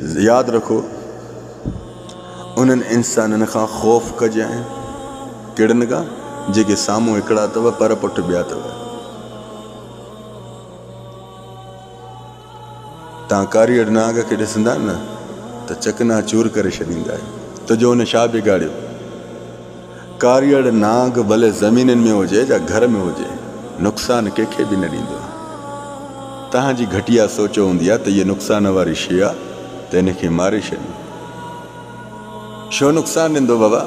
ياد رکو، انهن انسانن کان خوف ڪجانء، ڪهڙن کان؟ جيڪي سامهون هڪڙا اٿو، پر پٺ ٻيا اٿو. توهان ڪاريهڙ نانگ کي ڏسندا نه ته چڪنا چور ڪري ڇڏيندا آهيو، تنهنجو ان ڇا بگاڙيو؟ ڪاريئڙ نانگ ڀلي زمينن ۾ هجي جا گهر ۾ هجي نقصان ڪنهن کي به نه ڏيندو آهي. توهان جي گهٽيا سوچ هوندي آهي ته هيء نقصان واري شيء آهي ته هن کي ماري ڇڏيون. ڇو نقصان ڏيندو بابا؟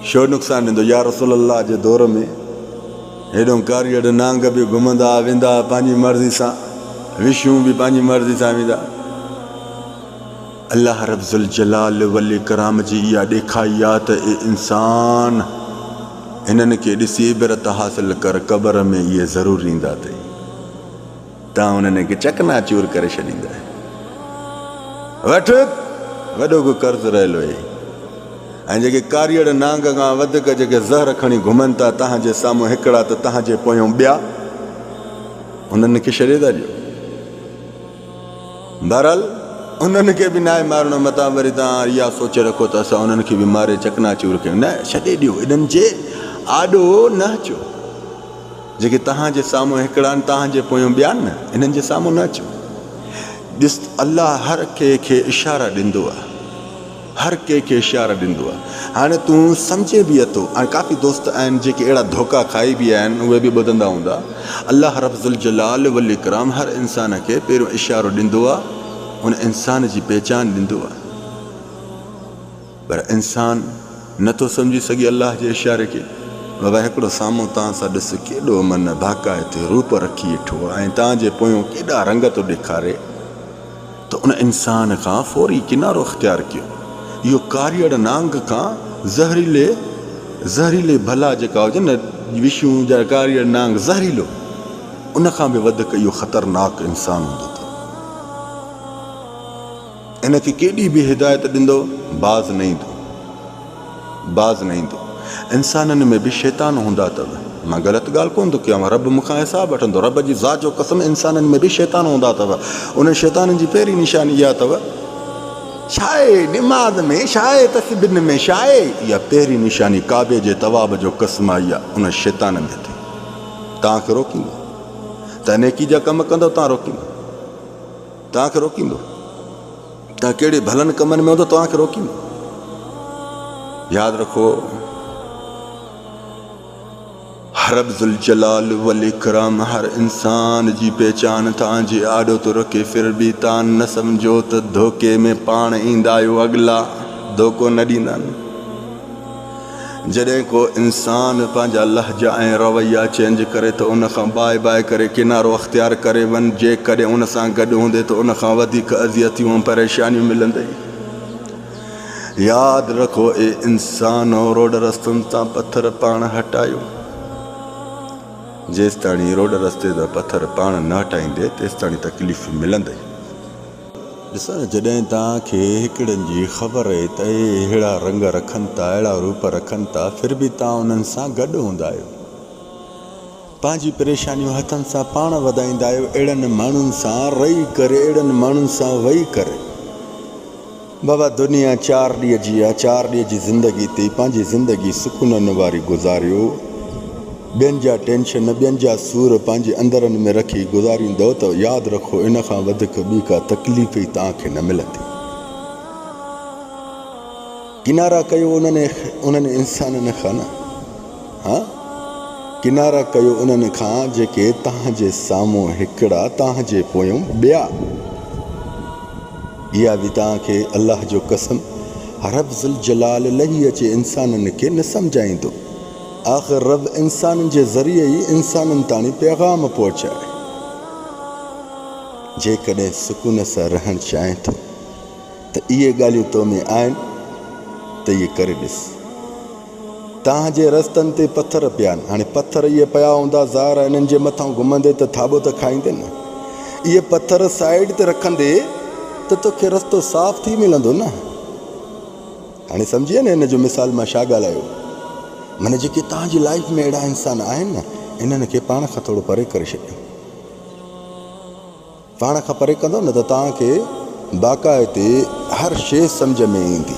ڇو نقصان ڏيندو؟ يا رسول الله جي دور ۾ هيڏو ڪاريئڙ نانگ به گهمندا ها ويندا ها پنهنجي مرضي سان وشون به پنهنجي مرضي سان ويندا. الله رب ذوالجلال والاڪرام جي اها ڏيکائي آ ته اي انسان! هنن کي ڏسي عبرت حاصل ڪر، قبر ۾ اهي ضرور ايندا اٿئي، تان انهن کي چڪنا چور ڪري ڇڏيندين. وٺ! وڏو ڪو قرض رهيل هئي ۽ جيڪي ڪاريئڙ نانگ کان وڌيڪ جيڪي زهر کڻي گهمن ٿا، تهان جي سامهون هڪڙا ته تهان جي پويون ٻيا، انهن کي ڇڏي ٿا ڏيو. بهرحال انهن کي به ناهي مارڻو متان وري توهان اها سوچ رکو ته اسان انهن کي به ماري چڪنا چور ڪيون نه ڇڏي ڏيو انهن جي آڏو نه اچو جيڪي توهان جي سامهون هڪڙا آهن توهان جي پويون ٻيا آهن نه انهن جي سامهون نه اچو ڏس الله هر ڪنهن کي اشارا ڏيندو آهي هر ڪنهن کي اشارا ڏيندو آ هاڻي تون سمجهين به اٿو ۽ ڪافي دوست آهن جيڪي اهڙا ڌوڪا کائي به آهن اهي به ٻڌندا هوندا الله رب ذوالجلال والاڪرام هر انسان کي پهريون اشارو ڏيندو آ ان انسان جي پهچان ڏيندو آ پر انسان نه ٿو سمجهي سگهي الله جي اشاري کي بابا هڪڙو سامهون تان سان ڏس ڪيڏو من ڀاڪائتي روپ رکي اٺو آ ۽ تان جي پويون ڪيڏا رنگ ٿو ڏيکاري ته ان انسان کان فوري ڪنارو اختيار ڪيو. اهو ڪاريئڙ نانگ کان زهريلي زهريلي ڀلا جيڪا هجن نه وشون جا ڪاريئڙ نانگ زهريلو ان کان به وڌڪ اهو خطرناڪ انسان هوندو ته ان کي ڪيڏي به هدايت ڏندو باز نه ايندو. باز نه ايندو. انسانن ۾ به شيطان هوندا اٿو. مان غلط ڳالهه ڪونه ٿو ڪيان. رب مون کان حساب وٺندو. رب جي ذات جو قسم انسانن ۾ به شيطان هوندا اٿو. انهن شيطانن جي پهرين نشاني اها اٿو. شاهي نماز ۾ شاهي تسبيحن ۾ شاهي اها پهرين نشاني ڪعبي جي طواف جو قسم آهي اها انهن شيطانن جي اٿو. توهان کي روڪيندو ته نيڪي جا ڪم ڪندو توهان روڪيندو. توهان کي روڪيندو؟ توهان ڪهڙي ڀلن ڪمن ۾ هوندو توهان کي روڪيندو؟ ياد رکو رب ذوالجلال والاڪرام هر انسان جي پهچان توهان جي آڏو ٿو رکي ڦر به توهان نه سمجهو ته ڌوڪي ۾ پاڻ ايندا آهيو اڳلا ڌوڪو نه ڏيندا آهن جڏهن ڪو انسان پنهنجا لهجا ۽ رويا چينج ڪري ته ان کان باء باء ڪري ڪنارو اختيار ڪري وڃ جيڪڏهن ان سان گڏ هوندي ته ان کان وڌيڪ اذيتيون ۽ پريشانيون ملندئي ياد رکو اي انسانو روڊ رستن تان پٿر پاڻ هٽايو جيستاڻي روڊ رستي تان پٿر پاڻ نه هٽائيندي تيستاڻي تڪليف ملندئي. ڏسڻ جڏهن توهان کي هڪڙن جي خبر آهي ته اهي اهڙا رنگ رکن ٿا اهڙا روپ رکن ٿا ڦر به توهان انهن سان گڏ هوندا آهيو پنهنجي پريشانيون هٿن سان پاڻ وڌائيندا آهيو اهڙن ماڻهن سان رهي ڪري اهڙن ماڻهن سان وهي ڪري بابا دنيا چار ڏينهن جي آهي چار ڏينهن جي زندگي تي پنهنجي زندگي سڪونن واري گذاريو ٻين جا ٽينشن، ٻين جا سور پنهنجي اندرن ۾ رکي گذاريندؤ ته ياد رکو ان کان وڌيڪ ٻي ڪا تڪليف ئي توهان کي نه ملندي. ڪنارا ڪيو انهن انهن انسانن کان نه ها ڪنارا ڪيو انهن کان جيڪي توهان جي سامهون هڪڙا توهان جي پويون ٻيا. اها به توهان کي الله جو قسم رب ذوالجلال لهي اچي انسانن کي نه سمجهائيندو. آخر رب انسانن جي ذريعي ئي انسانن تاڻي پيغام پهچائي. جيڪڏهن سڪون سان رهڻ چاهين ٿو ته اهي ڳالهيون تو ۾ آهن ته اهي ڪري ڏس. توهان جي رستن تي پٿر پيا آهن. هاڻي پٿر اهي پيا هوندا ظاهر آهي انهن جي مٿان گهمندي ته ٿاٻو ته کائيندين نه. اهي پٿر سائيڊ تي رکندي ته توکي رستو صاف ٿي ملندو نه. هاڻي سمجهيئي نه ان جو مثال مان ڇا ڳالهايو؟ من جيڪي توهان جي لائيف ۾ اهڙا انسان آهن نه انهن کي پاڻ کان ٿورو پري ڪري ڇڏيو. پاڻ کان پري ڪندو نه ته توهان کي باقاعدي هر شي سمجهه ۾ ايندي.